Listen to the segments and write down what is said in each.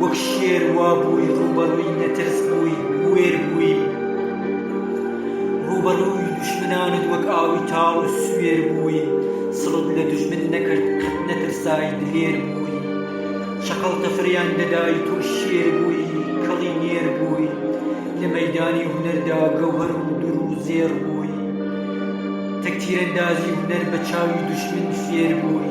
وەک شێر وابووی ڕووبەڕووی نەترس بووی بوێر بووی ڕووبەڕووی دوژمنانت وەک ئاوی تاڵ و سوێر بووی سڵت لە دوژمن نەکرد قەت نەترسای دلێر بووی شەقڵ تەفریان دەدای تۆ شێر بووی کەڵی نێر بووی لە مەیدانی هونەردا گەوهەر و دور و زێڕ بووی تەک تیرەندازی هونەر بە چاوی دوژمن فێر بووی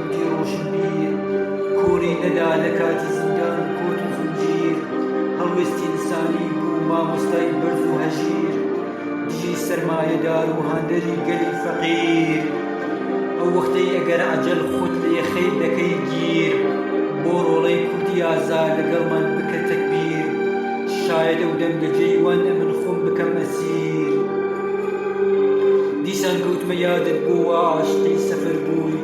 کوردی ڕۆشنبیر کۆری نەدا لە کاتی زیندان و کۆت و زنجیر هەڵوێستی ئینسانی بوو مامۆستای بەرز و هەژیر دژی سەرمایەدار و هاندەری گەلی فەقیر ئەو وەختەی ئەگەر عەجەل خۆت لێ خەیر دەکەی گیر بۆ ڕۆڵەی کوردی ئازا لەگەڵمان بکە تەکبیر شایەد ئەو دەنگە جێی وان ئەمن خۆم بکەم ئەسیر دیسان گوتمە یادت بۆ وا عاشقی سەفەر بووی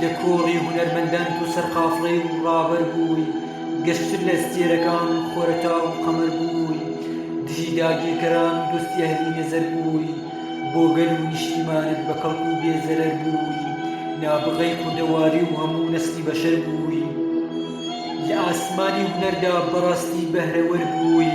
لە کۆڕی هونەرمەندان بوو سەرقافڵەی و ڕاڤەر بووی گەشتر لە ئەستێرەکان خۆرەتا و قەمەر بووی دژی داگیرکەران و دۆستی ئەهلی نەزەر بووی بۆ گەل و نیشتیمانت بە کەڵک و بێ زەرەر بووی نابغەی کوردەواری و هەموو نەسلی بەشەر بووی لە ئاسمانی هونەردا بەڕاستی بەهرەوەر بووی